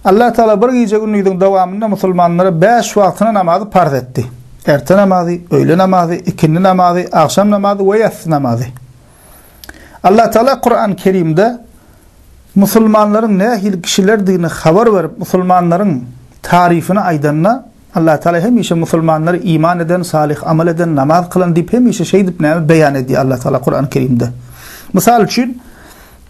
Allatagala bir gije-gündiziň dowamynda musulmanlara bäş wagtyna namazy parz etdi. Erte namazy, öýle namazy, ikindi namazy, agşam namazy we ýassy namazy. Allatagala Kurany Kerimde musulmanlaryň nähili kişilerdigini habar berip, musulmanlaryň taryfyny aýdanda, Allatagala hemişe musulmanlary iman eden, salyh amal eden, namaz kylan diýip hemişe şeýdip näme beýan edýär Allatagala Kurany Kerimde. Mysal üçin,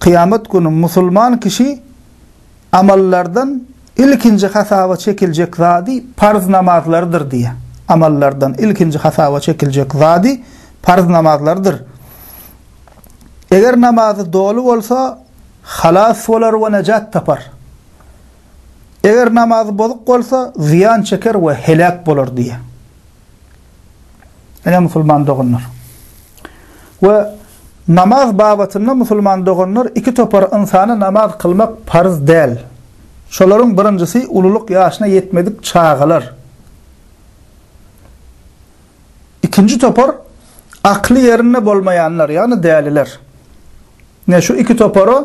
Kyýamat güni musulman kişi amallardan ilkinji hasaba çekiljek zady parz namazlardyr diýýär. Amallardan ilkinji hasaba çekiljek zady parz namazlardyr. Eger namazy doly bolsa, halas bolar we nejat tapar. Eger namazy bozuk bolsa, zyýan çeker we heläk bolar diýýär. Ine musulman doganlar. We namaz babatynda musulman doganlar iki topar ynsana namaz kylmak parz däl. Şolaryň birinjisi ululyk ýaşyna ýetmedik çagalar. Ikinji topar akly ýerinde bolmaýanlar, ýagny däliler. Ine, şu iki topara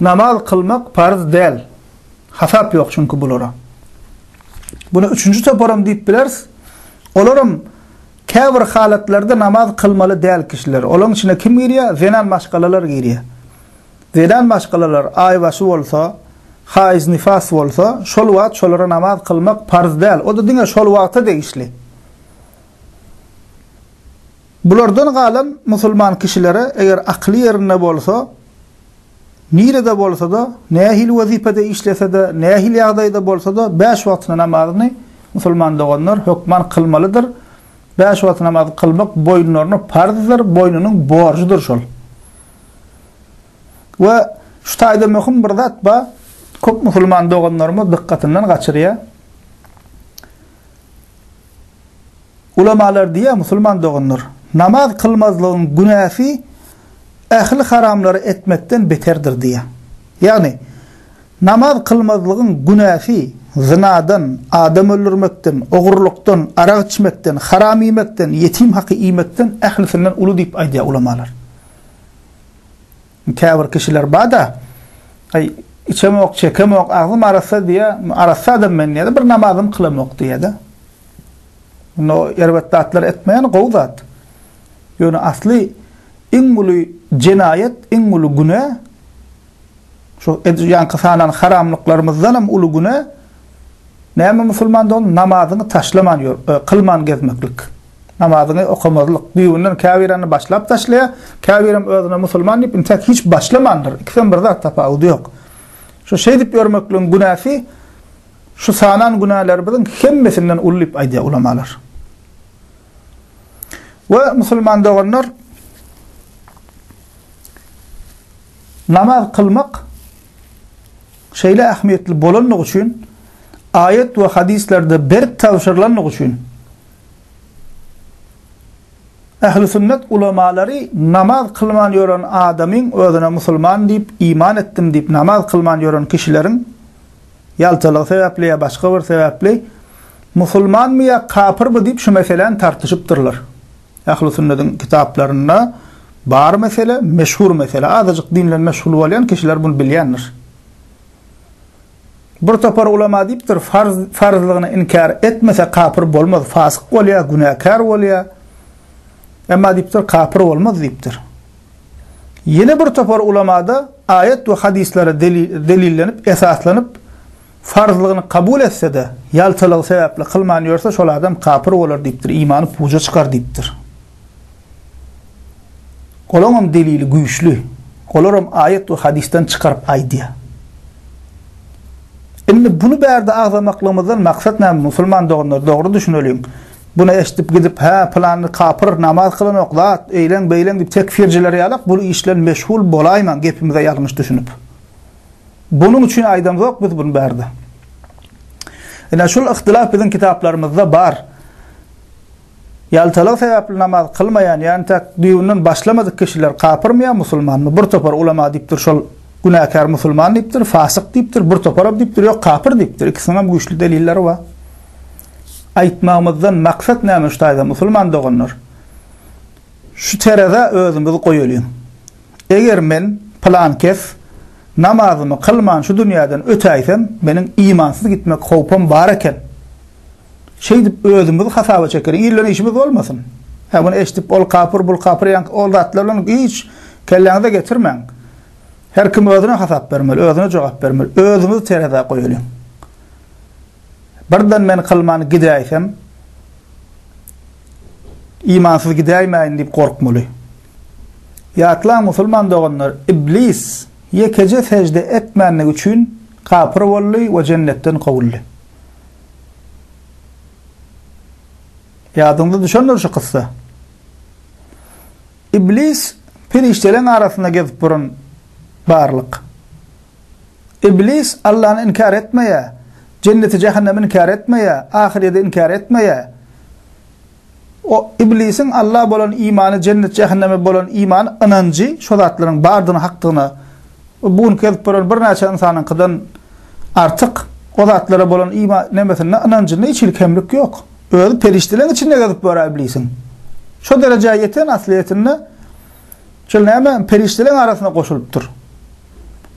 namaz kylmak parz däl. Hasap ýok çünki bulara. Buna üçünji toparam diýip bileris. Olaram käbir halatlarda namaz kylmaly däl kişiler. Olaryň içine kim girýär? Zenan maşgalalar girýär. Zenan maşgalalar aýbaşy bolsa, haýz, nifas bolsa, şol wagt şolara namaz kylmak parz däl. O-da diňe şol wagta degişli. Bulardan galan musulman kişilere eger akyly ýerinde bolsa, nirede bolsa-da, nähili wezipede işlese-de, nähili ýagdaýda bolsa-da, bäş wagtly namazyny, musulman doganlar, hökman kylmalydyr. Bäş wagtly namazy kylmak boýunlaryna parzdyr, boýnunyň borjudyr şol. We şu taýda möhüm bir zat bar, köp musulman doganlarymyz dykgatyndan gaçyrýar. Ulamalar diýýär, Musulman doganlar, namaz kylmazlygyň günäsi ähli haramlary etmekden beterdir diýýär. Ýagny, namaz kylmazlygyň günäsi zynadan, adam öldürmekden, ogurlykdan, arak içmekden, haram iýmekden, ýetim haky iýmekden ählisinden uly diýip aýdýar ulamalar. Käbir kişiler bar-da, Aý, içemok, çekemok, agzym arassa diýýär, arassa adam men diýýär-de, bir namazam kylamok diýýär-de. Indi o erbet zatlary etmeýän gowy zat. Ýöne asly iň uly jenaýat, iň uly günä, şu edýänki sanan haramlyklarymyzdan hem uly günä, näme musulman dogan, namazyňy taşlaman ýör, kylman gezmeklik. Namazyňy okamazlyk. Düýbünden käbirany başlap taşlaýar, käbirem özüne musulman diýip intäk hiç başlamandyr. Ikisem bir zat tapawudy ýok. Şu şeýdip ýörmekligiň günäsi şu sanan günälerimiziň hemmesinden uly diýip aýdýar ulamalar. We musulman doganlar namaz kılmak şeýle ähmiýetli bolandygy üçin aýat we hadislerde berk tabşyrylandygy üçin Ähli sünnet ulamalary namaz kylman ýören adamyň özüne musulman diýip, iman etdim diýip namaz kylman ýören kişileriň ýaltalygy sebäpli ýa başga bir sebäpli musulmanmy ýa kapyrmy diýip şu meseläni tartyşypdyrlar. Ähli sünnediň kitaplarynda bar mesele, meşhur mesele. Azajyk dinle meşgul bolýan kişiler bunu bilýändir. Bir topar ulema diýipdir, farz farzlygyny inkär etmese kapyr bolmaz, fasyk bolýar, günäkär bolýar. Emma diýipdir, kapyr bolmaz diýipdir. Ýene bir topar ulemada aýat we hadyslara delillenip, esaslanyp, farzlygyny kabul etse-de, ýaltalygy sebäpli kylman ýörse, şol adam kapyr bolar diýipdir, imany puja çykar diýipdir. Olaňam delili güýçli. Olaram aýat we hadysdan çykaryp aýdýar. Indi buny bärde agzamaklygymyzdan maksat näme musulman doganlar dogry düşüneliň. Buny eşdip gidip hä pylany kapyr namaz kylanok zat eýleň beýleň diýip tekfirjiler ýalak bul iş bilen meşgul bolaýmaň gepimize ýalňyş düşünip. Bunuň üçin aýdamzok biz buny bärde. Ine şul yhtylaf biziň kitaplarymyzda bar. Ýaltalygy sebäpli namaz kylmaýan, ýagny täk düýbünden başlamadyk kişiler kapyrmy ýa musulmanmy? Bir topar ulama diýipdir, şol günäkär musulman diýipdir, fasyk diýipdir, bir toparam diýipdir, ýok kapyr diýipdir. Ikisiniňem güýçli delilleri bar. Aýtmagymyzdan maksat näme şu taýda musulman doganlar? Şu terezä özümizi goýalyň. Eger men, pylan kes, namazymy kylman şu dünýäden ötäýsem, meniň imansyz gitmek howpam bar eken. Şeýdip özümizi hasaba çekeris. Ilden işimiz bolmasyn. Hä muny eşdip ol kapyr, bul kapyr ýaňky ol zatlar bilen hiç kelläňize getirmäň. Her kim özüne hasap bermeli, özüne jogap bermeli. Özümizi terezä goýalyň. Birden men kylman gidäýsem, imansyz gidäýmäýin diýip gorkmaly. Ýatlaň musulman doganlar, iblis ýekeje sejde etmänligi üçin kapyr boldy we jennetden kowuldy. Ýadyňyza düşendir şu kyssa. Iblis perişdeleriň arasynda gezip duran barlyk. Iblis Allany inkär etmeýär, jenneti-jähennemi inkär etmeýär, ahyrýeti inkär etmeýär. O, Iblisiň Alla bolan imany, jennet-jähenneme bolan imany, ynanjy, şo zatlaryň bardygyna, hakdygyna we bu günki gezip ýören birnäçe ynsanyňkydan artyk o zatlara bolan ima, nemesinde, ynanjynda hiç hili kemlik ýok. Özi perişdeleriň içinde gezip ýör-ä Iblisiň. Şo derejä ýeten aslyýetinde, şol näme, perişdeleriň arasyna goşulypdyr.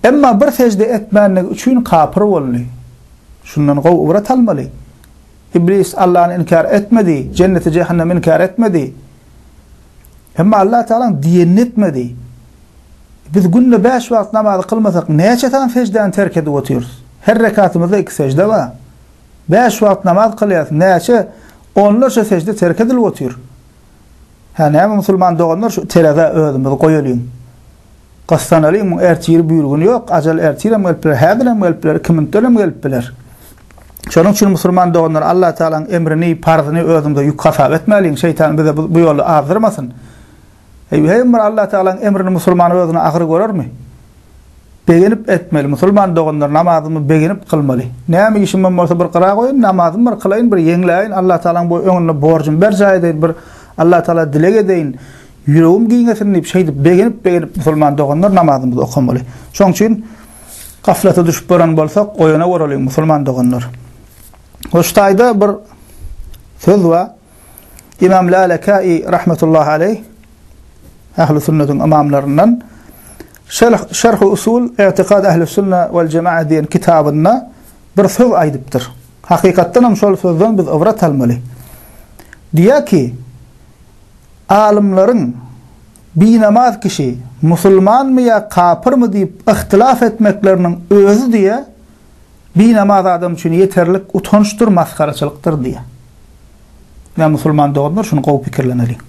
Emma bir sejde etmändigi üçin kapyr boldy. Şundan gowy ybrat almaly. Iblis Allany inkär etmedi, jenneti-jähennemi inkär etmedi. Emma Allah Tagalaň diýenini etmedi. Biz günde bäş wagt namazy kylmasak, näçe sany seždäni terk edip otyrys? Her rekatymyzda iki sežde bar. Bäş wagt namaz kylýarys, näçe onlarça sežde terk edilip otyr? Hä, näme musulman doganlar, şu terezä özümizi goýalyň. Gyssan alyň, muň ertiri bu ýyl güni ýok, ajal ertirem gelip biler, häzirem gelip biler, iki minutdanam gelip biler. Şonuň üçin musulman doganlar, Allatagalaň emrini, parzyny özüňize ýük hasap etmäliň, şeýtan bize bu ýoly azdyrmasyn. Eý, her bir Allatagalaň emrini musulman özüne agyr görermi? Begenip etmeli, musulman doganlar, namazymy begenip kylmaly. Näme işimem bolsa bir gyra goýun, namazymy bir kylaýyn, bir ýeňläýin, Allatagalaň bu öňünde borjumy berjaý edeýin, bir Allatagala dileg edeýin. Ýüregim giňesin diýip, şeýdip begenip-begenip musulman doganlar namazymyzy okamaly. Şoň üçin gaflata düşüp baran bolsak, oýana goralyň musulman doganlar. We şu taýda bir söz bar. Imam Lalekäi rahmetullahi aleýh Ähli sünnetiň ymamlaryndan Şerh Şerhu usul i'tikad ähli sünne wal jemaa diýen kitabynda bir söz aýdypdyr. Hakykatdan hem şol sözden biz ybrat almaly. Diýýär ki, Alymlaryň binamaz kişi musulmanmy ýa kapyrmy diýip yhtylaf etmekleriniň özi diýe binamaz adam üçin ýeterlik utançdyr masgaraçylykdyr diýe. Ýa musulman doganlar şuny gowy pikirleneliň.